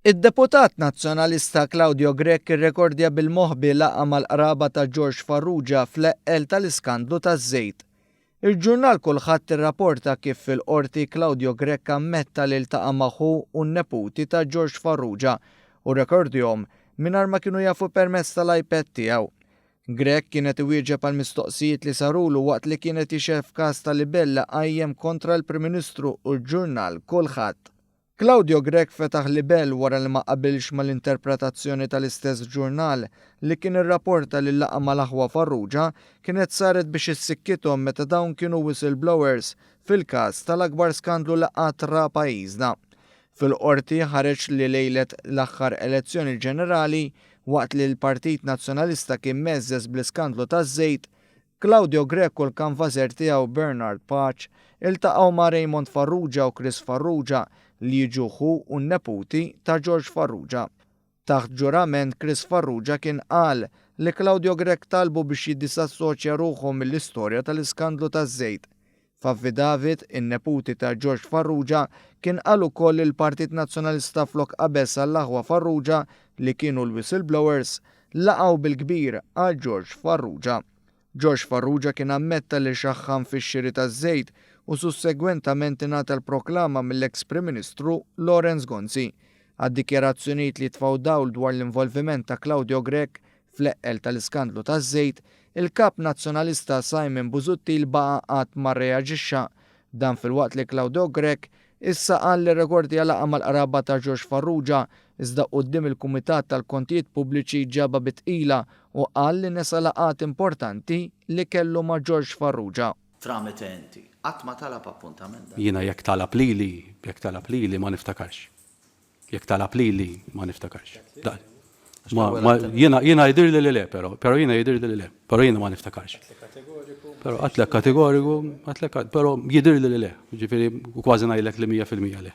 Id-Deputat Nazzjonalista Claudio Grech irrekordja bil-moħbi laqgħa mal-qraba ta' George Farrugia fl-eqqel tal-iskandlu taż-żejt. Il-ġurnal Kulħadd irraporta kif fil-Qorti Claudio Grech ammetta li ltaqa' ma' ħu u n-neputi ta' George Farrugia u rrekordjhom mingħajr ma kienu jafu permezz tal-iPad tiegħu. Grech kien qed iwieġeb għal mistoqsijiet li sarulu waqt li kien qed jixhed f'każ ta' libell li qajjem kontra l-Prim Ministru u l-ġurnal Kulħadd. Claudio Grech fetaħ libell wara li ma qabilx mal-interpretazzjoni tal-istess ġurnal li kien irraporta li l-laqgħa mal-aħwa Farrugia kienet saret biex issikkithom meta dawn kienu whistleblowers fil-każ tal-akbar skandlu li qatt ra pajjiżna. Fil-Qorti ħareġ li lejlet l-aħħar elezzjoni ġenerali, waqt li l-Partit Nazzjonalista kien mgħeżżeż bl-iskandlu taż-żejt, Claudio Grech u l-kanvażer tiegħu Bernard Pace iltaqgħu ma' Raymond Farrugia u Chris Farrugia li jiġu ħu u neputi ta' George Farrugia. Taħt ġurament Chris Farrugia kien qal li Claudio Grech talbu biex jiddisassoċja ruħu mill-istorja tal-iskandlu taż-żejt. F'affidavit, in-neputi ta' George Farrugia kien qal ukoll li l-Partit Nazzjonalista flok qabeż għall-aħwa Farrugia li kienu l-whistleblowers, laqgħu bil-kbir għal George Farrugia. George Farrugia kien ammetta li xaħħan fix-xiri taż-żejt u sussegwentament ingħata l-proklama mill-eks Prim Ministru Lawrence Gonzi għad-dikjarazzjonijiet li jitfgħu dawl dwar l-involviment ta' Claudio Grech fl-eqqel tal-iskandlu taż-żejt, il-Kap Nazzjonalista Simon Busuttil baqa' qatt ma rreaġixxa, dan filwaqt li Claudio Grech Issa qal li r-rekord hija laqgħa mal-qraba ta' George Farrugia, iżda quddiem il-Kumitat tal-Kontijiet Pubbliċi ġabha bi tqila u qal li nesa laqgħat importanti li kellu ma' George Farrugia. Tramite inti. Qatt ma talab appuntament. Jiena jekk talab lili, jekk talab lili ma niftakarx. Jekk talab lili ma niftakarx. Jiena jidir li le, pero, pero jiena jidir li le, pero jiena ma niftakarx. Pero għatlek kategoriku, għatlek, pero jidir li le, ġifiri kważi najlek li 100% le.